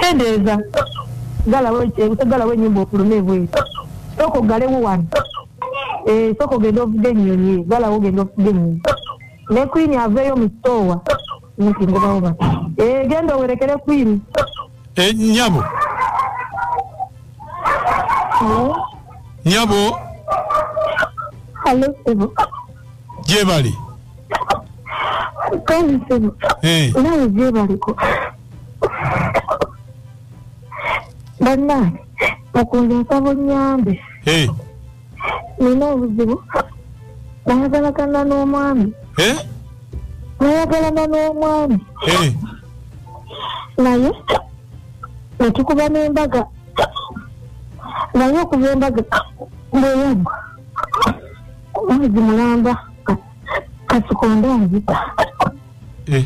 kendeeza galawo enyumba okulume ebweru sooka ogalewo wano eh, sooka ogenda ovuga enyonyi galawo ogenda ovuga enyonyi ne kwini aveeyo mu sitoowa nti ngobawo bati eh, genda owerekere kwini Eh, nyabo nyabo Hello, Sibu. gyebali Kale Sibu. Eh. Nawe gye baliko. Bannange, mukunze nsaba onnyambe. Eh, Nina obuzibu. Nayagalagana n'omwami. eh, Nayagalana n'omwami. eh. naye netukuba n'embaga naye okuva embaga bweyagwa mwezi mulamba kasikonde anzita eh.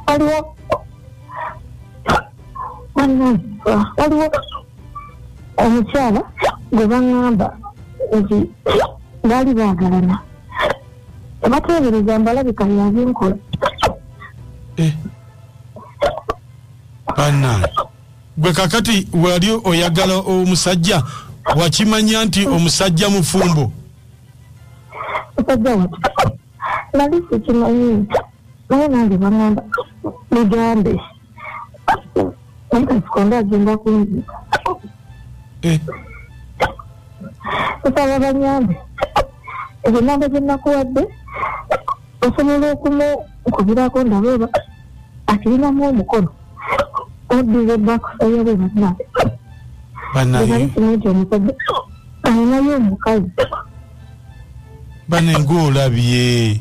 waliwo waliwo omukyala gwe baŋŋamba nti baali baagalana Tebateebereza mbalabika yabinkola. Eh. Banna. Gwe kakati wali oyagala omusajja wakimanya nti omusajja mufumbo. Musajja watu. Nali sikimanyi. Naye nange bangamba. Mugambe. Sikondo agenda kunzika. Eh. Nsaba banyambe. Ezo namba ze nakuwadde osobola okumukubirako ndabe oba akirinamu omukono oddize bakusayo bwe bannange. Bannange. Alinayo omukazi. Bannange olabye.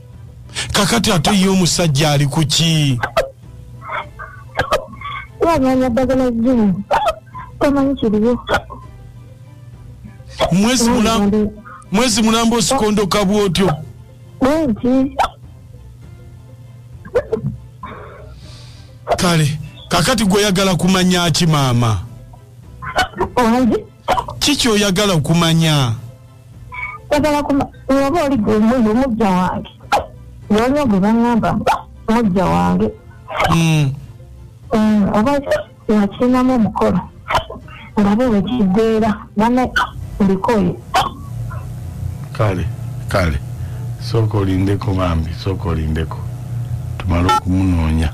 kakati ate ye omusajja ali ku ki waganya ddagala zimu tomanyi kiriwo mwezi mulamba osikondoka bwotyo bwenti kale kakati gweoyagala kumanya ki maama kiki oyagala okumanya kwagala kuma oba oli gwe muyo mujja wange waliwo gwe bangamba mujja wange hmm. hmm, oba wakirinamu omukolo ngabe wekigweera bane ndikoye kale kale sooka olindeko bambi sooka olindeko tumale okumunoonya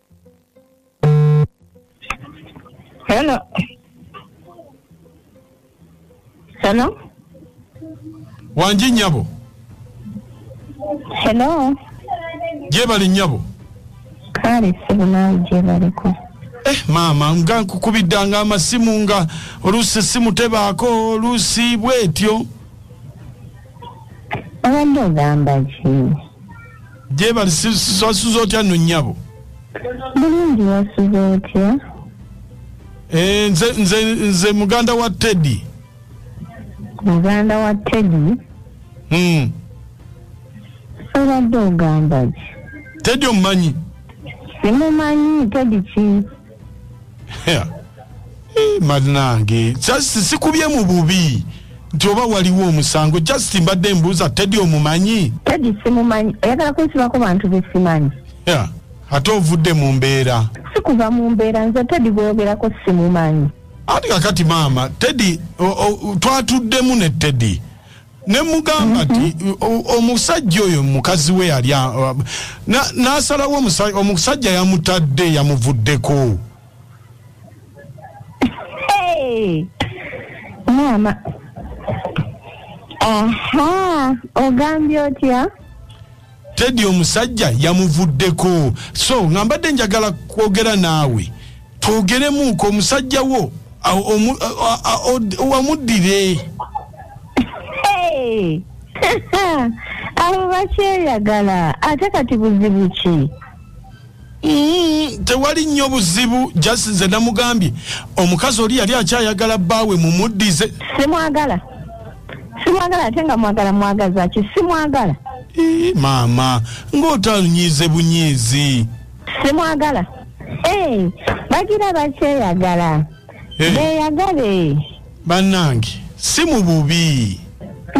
Hello. Hello. Wanji nyabo. Hello. Jebali nyabo. Kale sibu nawe jebali ko. Eh mama nga kukubidda nga amasimu nga oluusi simu tebaako oluusi bwetyo. obadde ogamba ki jebali wasuze otya no nyabo bulungi wasuze otya eh, nze, nze, nze muganda wa teddy muganda wa teddy mm. obadde ogamba ki teddy omumanyi simumanyi teddy ki manange just sikubye mu bubi nti oba waliwo omusango just mbadde mbuuza tedi omumanyi tedi simumanyi oyagala kunsibako bantu besimanyi yeah. ate ovudde mu mbeera sikuva mu mbeera nze tedi gweyogerako simumanyi ati kakati maama tedi twatuddemu ne tedi ne mugamba nti mm-hmm. omusajja oyo mukazi we yali n'asalawo omusajja yamutadde yamuvuddeko maama aha ogambye otya teddy omusajja yamuvuddeko so nga mbadde njagala kwogera naawe twogeremuuko omusajja wo wamuddire abo bakyeyagala ate kati buzibu ki Mm, tewali nnyo buzibu just nze namugambye omukazi oli yali akyayagala bbaawe mumuddize simwagala simwagala ate nga mwagala mwagaza ki simwagala eh, maama ng'otanyiize bunyiizi simwagala eh, bagira bakyeyagala eh. beyagale bannange si mu bubi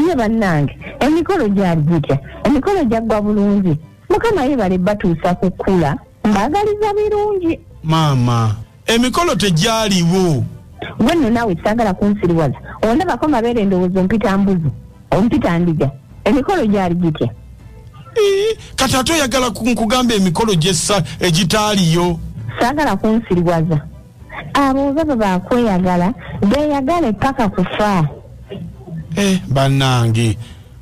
ye bannange emikolo gyali gitya emikolo gyaggwa bulungi mukama yebale batuusa ku kkula mbaagaliza birungi maama emikolo tegyaliwo gwe nno naawe saagala kunsiriwaza ondabako mabeere endowooza ompita mbuzi ompita ndiga emikolo gyali gitya kati ate oyagala nkugamba emikolo gyessa egitaaliyo saagala kunsiriwaza abo baba bakweyagala beyagale paka kufa eh, banange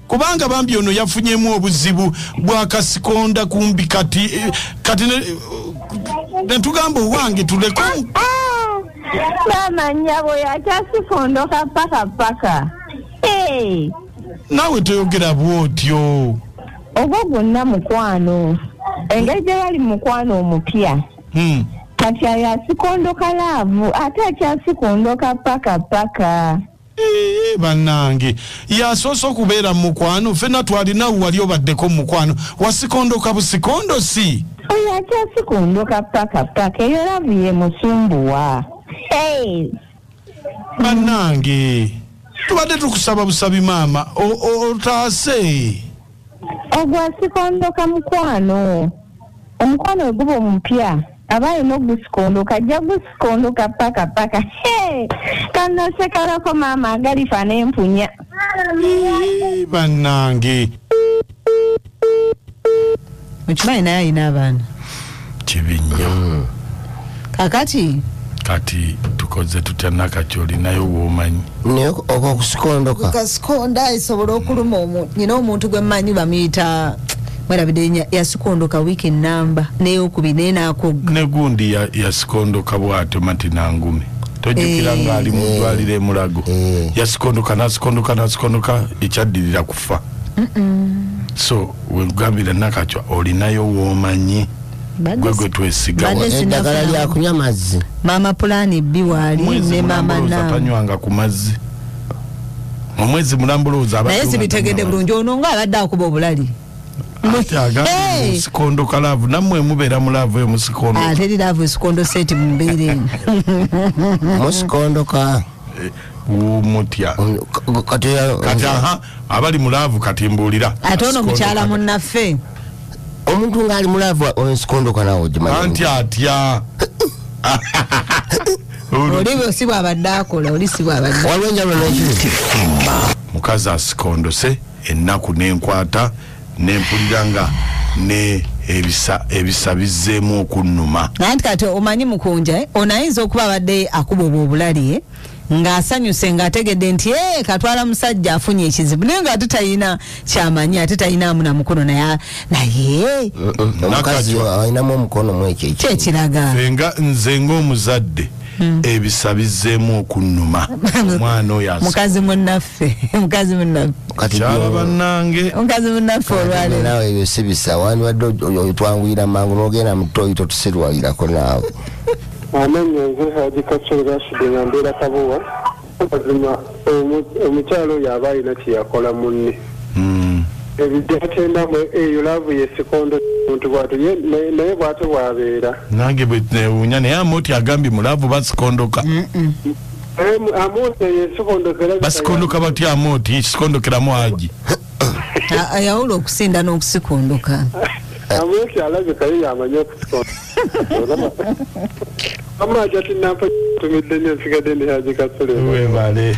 kubanga bambi ono yafunyemu obuzibu bwakasikonda kumbi kati eh, kati netugamba owange tuleko ah, ah. mama nyabo yakyasikondoka paka paka eh. nawe toyogera bwotyo ogwo gwonna mukwano engeri gye yali mukwano omupya hmm. kati ayo asikondoka laavu ate akyasikondoka paka paka eh, banange yasoose okubeera mu mukwano fena twalinawe wali obaddeko mu mukwano wasikondoka busikondo si oyo akyasikondoka paka paka eyo laavu ye musumbuwa banange tubadde tukusaba busabi maama otaase ogwasikondoka mukwano omukwano weguba omupya aba alina ogusikondoka ajja gusikondoka paka paka kanasekalako maama agalifa nempunya banange okimanyi naye alina abaana kibi nnyo mm. kakati kati tukoze tutya nakati olinayo womanyi okosikondokaosikonda esobola okuluma nyina omuntu gwemanyi bamuyita mwerabide yasikondoka wiiki enamba neyokubi naye nakogga negundi yasikondoka bwatyo mati nangumi tojukira eh. nga ali mudwaliro emulago eh. yasikondoka nasikondoka nasikondoka ekyaddirira kufa so wegambira nakacwa olinayo womanyi gwe gwe twesigaeddagala lyakunywa mazzi maama pulaani bbi waali ne maama natanywanga ku mazzi omwezi mulambulooza naye sibitegedde bulungi ono nga abadde akuba obulali sikondo kalavu namwe mubeera mu laavu eyo musikondoateri laavu esikondo seti mumbeera eno musikondoka Eh, mutya kati aha abali mulaavu kati mbuulira ate ono mukyala munnaffe omuntu ngaali mulaavu enskondoka nawe ogimanti atya oliwo si bwabadde akola oli si bwabadde waliwo enjalo nekiri mukazi asikondose ennaku nenkwata nempulira nga ne ebisa ebisa bizzeemu okunnuma nanti kati omanyi mukunja eh? ono ayinza okuba abadde akuba obwo obulali eh? ng'asanyuse ng'ategedde nti e katwala musajja afunye ekizibu naye ng'ate talina kyamanyi ate talinamu na mukono naye naye omukazi alinamu omukono mu ekyo kyekiraga nze ng'omuzadde hmm. ebisa bizzeemu okunnuma omwana oyo mukazi munnaffe mukazi munnafekyala bannange mukazi munnaffe olwalero nawe ebyo si bisa wandibadde otwanguyira mangu nogenda mutoyi totusirwalirako naawe amanya nze haji kakyere rashidi nga mbeera kabowa mazima omukyalo oyo aba alina kyeyakola munne hmm. ebyatendamu eyo laavu yesikondo muntu bwati naye bwate bwabeera nange bwenewunya naye amoti agambye mulaavu basikondoka basikondoka batya amoti sikondokeramu agi ayawula okusinda n'okusikondoka amoti alabikayo yamanyi okusikondoka amaja tinampa tumidde nyo nsigadde ndi haji kasule webale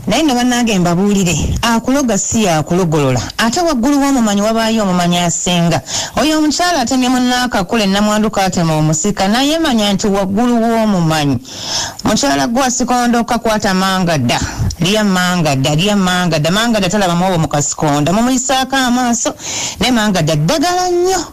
naye nga banange mbabuulire akuloga si yakulogolola ate waggulu w'omumanyi wabaayo omumanyi asinga oyo omukyala atemye munaakakula ennamwandu kaatema omusika naye manya nti waggulu w'omumanyi mukyala gwe asikondo kakwata mangada lya mangada lya mangada mangada talabamu obo mu kasikonda mumuyisaako amaaso naye mangada ddagala nnyo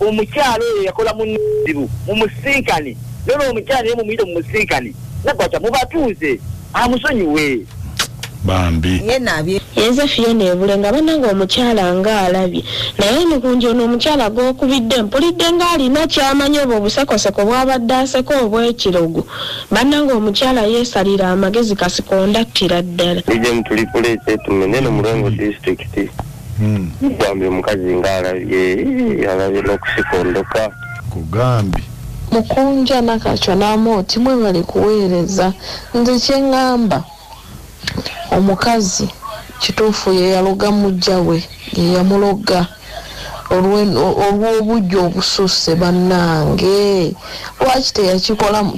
omukyala oyo yakola muzibu mumusinkane nona omukyala naye mumuyite mumusinkane nagwata mubatuuze amusonyiwe bambi yenze fiyona ebule nga bananga omukyala nga alabye naye emikunja ono omukyala gwokubidde mpulidde nga alina kyamanyi obwo obusekoseko bwabadde aseko obwekirogo bananga omukyala yesalira amagezi kasikondattira ddala bambi omukazi nga alabye alabye nokusikondoka kugambi mukunja nakacwa namooti mwebale kuweereza nze kyengamba omukazi kituufu yeyaloga mujja we yeyamuloga olw'obujja obususse bannange lwaki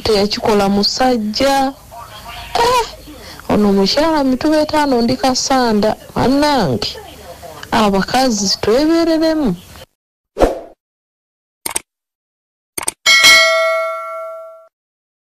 teyakikola musajja Eh, ono mukyala mituba etaano ndi kasanda banange abakazi twebereremu